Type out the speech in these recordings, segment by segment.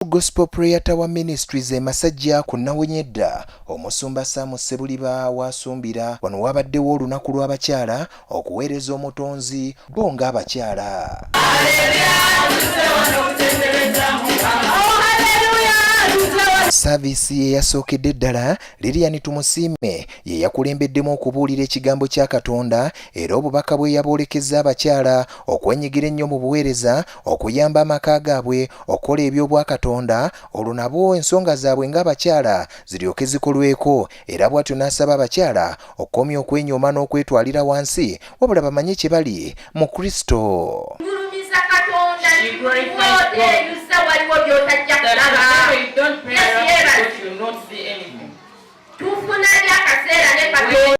True Gospel Prayer Tower Ministries e Masajja ku Nawonyedda, Omusumba Sam Ssebuliba w'asumbira. Wano waabaddewo olunaku lw'abakyala okuweereza Omutonzi bo ng'abakyala. Saaviisi ye yasookedde ddala Lilian Tumusiime ye yakulembeddemu okubuulira ekigambo kya Katonda era obubaka bwe yabwolekezza abakyala okwenyigira ennyo mu buweereza okuyamba amaka gaabwe okukola eby'obwakatonda olwo nabo ensonga zaabwe ng'abakyala ziryoke zikolweko era bw'atyo n'asaba abakyala okukomya okwenyooma n'okwetwalira wansi wabula bamanye kye bali mu kristo tufuna ly akaseera ne katonda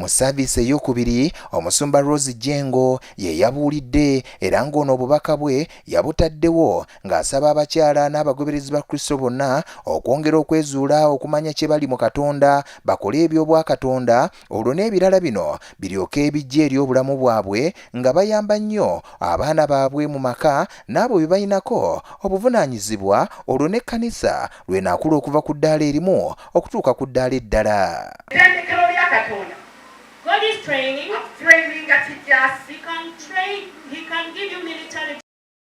mu saaviisi eyokubiri omusumba Rose Jengo ye yabuulidde era ng'ono obubaka bwe yabutaddewo ng'asaba abakyala n'abagoberezi ba Kristo bonna okwongera okwezuula okumanya kye bali mu Katonda bakole eby'obwakatonda olwo n'ebirala bino biryoke ebijja eri obulamu bwabwe nga bayamba nnyo abaana baabwe mu maka n'abo bye balinako obuvunaanyizibwa olwo n'ekkanisa lwenaakula okuva ku ddaala erimu okutuuka ku ddaala eddala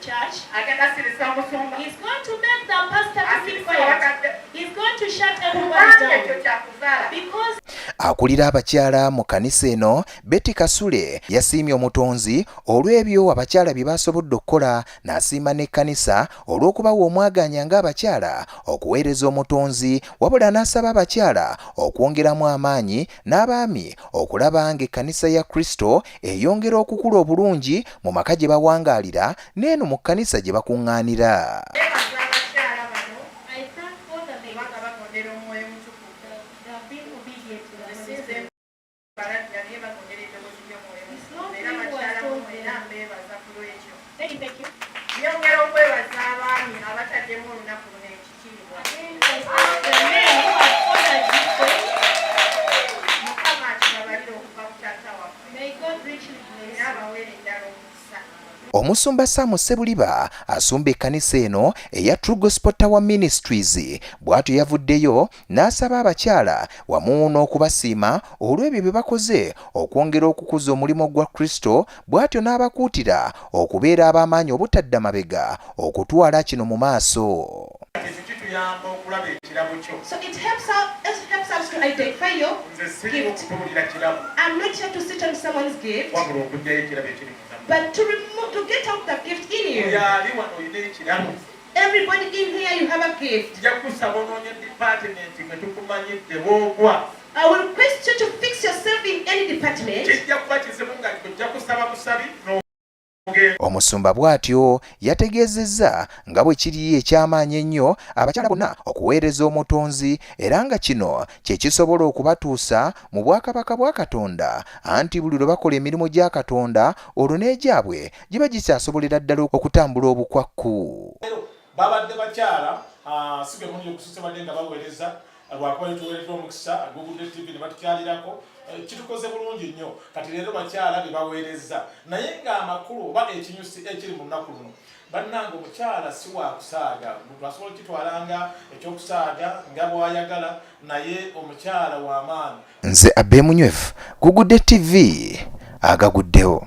church agenda sirisa omusumba he's going to make the pastor to keep quiet he's going to shut everybody down ekyo kyakuzala because akulira abakyala mu kanisa eno Betty Kasule yasiimye omutonzi olw'ebyo abakyala bye basobodde okukola n'asiima n'ekkanisa olw'okubawa omwaganya ng'abakyala okuweereza omutonzi wabula n'asaba abakyala okwongeramu amaanyi n'abaami okulaba ng'ekkanisa ya Kristo eyongera okukula obulungi mu maka gye bawangaalira n'eno mu kkanisa gye bakuŋŋaanira. Nyongera okwebaza abaami abataddemu olunaku luno ekyo. Omusumba Sam Ssebuliba asumba ekkanisa eno eya True Gospel Tower Ministries bw'atyo yavuddeyo n'asaba abakyala wamu n'okubasiima olw'ebyo bye bakoze okwongera okukuza omulimu gwa Kristo bw'atyo n'abakuutira okubeera ab'amaanyi obutadda mabega okutwala kino mu maaso. Everybody in here you have a gift. Nja kusaba onoonye department mwe tukumanyidde woogwa. I will request you to fix yourself in any department. Kijja kuba kizibu nga ojja kusaba busabi no Omusumba bw'atyo yategeezezza nga bwe kiri eky'amaanyi ennyo abakyala bonna okuweereza Omutonzi era nga kino kye kisobola okubatuusa mu bwakabaka bwa Katonda anti buli lwe bakola emirimu gya Katonda olwo n'egyabwe giba gikyasobolera ddala okutambula obukwakku babadde bakyala ah, si bemundi okususe badde nga baweereza ah, lwakuba yetuweeredde omukisa ah, google tv ne batukyalirako eh, kitukoze bulungi nnyo kati leero bakyala be baweereza naye ng'amakulu oba ekinyusi ekiri mu nnaku luno bannanga omukyala si wakusaaga muntu asobola okukitwala nga ekyokusaaga nga bwayagala naye omukyala w'amaanyi nze abemunywevu gugudde tv agaguddewo